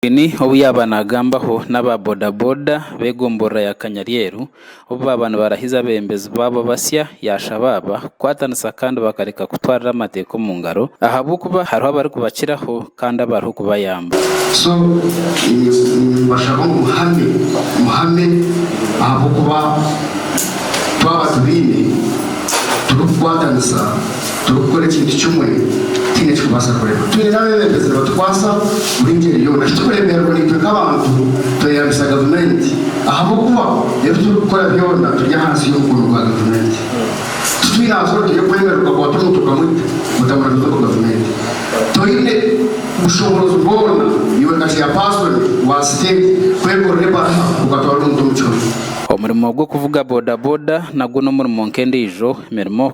Museveni obu yaaba naagambaho n'aba bodaboda b'egomborora ya Kanyaryeru obu baaba nibarahiza abebembezi baabo basya yaashaba aba kukwatanisa kandi bakareka kutwarira amateeka omu ngaro ahabw'okuba hariho abarikubakiraho kandi abariho kubayamba. So nimbashaba ngu muhame muhame ahabw'okuba twaba tubaine turikukwatanisa. Turikukora ekintu kimwe tutaine eki kubaasa kurema. Twine n'abeebembezi nibatukwasa buri ngyeri yoona. Shi turikuremeerwa naitwe nk'abantu tweyambisa gavumenti ahabw'okuba ebi turikukora byona turi ahansi y'omukono gwa gavumenti. Titwine aha zoona turikwemerera okakwata omuntu okamwita ota muramitwe ngu gavumenti. Toine bushoboorozi bwona iwe nka chairperson wa siteegi kwekorera ebaraha okatwara omuntu omu kihomi. Omurimo gw'okuvuga bodaboda nagwo n'omurimo nk'endiijo mirimo.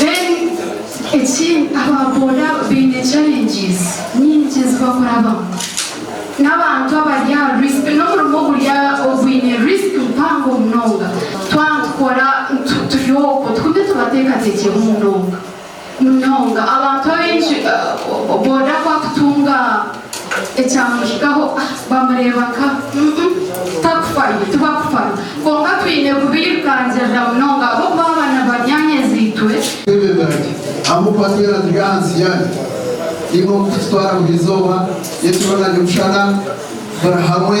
Then ekindi aba boda baine challenges nyingi ezi bakurabamu n'abantu abari aha risk n'omurimo oguri ogwine risk mpango munonga twaba nitukora turi okwo tugume tubateekateekyeho munonga munonga abantu abaingi boda ku akutunga Ekyamuhikaho bamureeba nka, umm takufayo tibakufayo kwonka twine kubirukangirira munonga ahabw'okuba aba ni banyaanyazi-itwe. Ebyo biragye amu kuba twena turi ahansi yabyo. Ni nk'oku tikitwara buri izooba, n'ekiro nari omushana buri hamwe.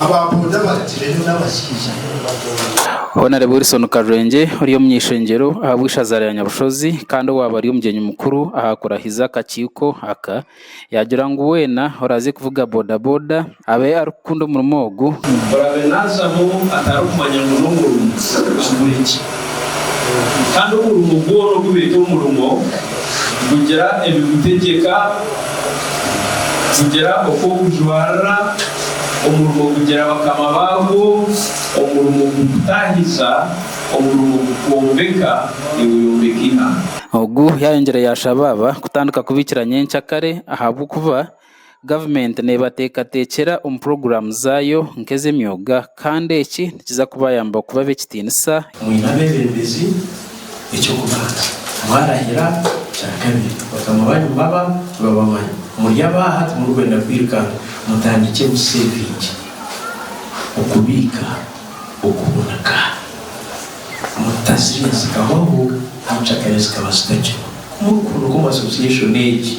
Aba boda barigireyo n'abashaija mbwenu badoora. Honarebo Wilson Karwengye ori omu ishengyero ahabw'eishaza rya Nyabushozi kandi owaaba ari omugyenyi mukuru aha kurahiza akakiiko aka, yaagira ngu weena oraaze kuvuga boda boda abe arikukunda omurimo ogu. Oraabe naazamu atarikumanya ngu n'omurimo kigure gye. Kandi omurimo gwona ogu beeta omurimo gugira ebigutegyeka, gugira oku ogujwarira. Omurimo gugira bakama baagwo, omurimo gukutaahiza, omurimo gukwombeka, niweyombeka eihanga. Ogu yayongyire yashaba aba kutandika kubiikira nyenkya kare ahabw'okuba gavumenti neebateekateekyera omu puroguraamu zaayo nk'ez'emyoga. Kandi eki nikiza kubayamba kuba ab'ekitiinisa. Mwine abeebembezi, eky'okubanza mwarahira, kya kabiri bakama baanyu baba nibabamanyi. Muri abaaha, timurikwenda kwirukanga, mutandikye museevinge, okubiika, okuhunika, mutazirya zikahwaho n'encakare zikaba zitakiriho. Ku murikuhunika omu asosiyeshoni egi,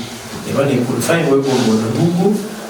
neeba neekurifayingwa ebigomboora bigu.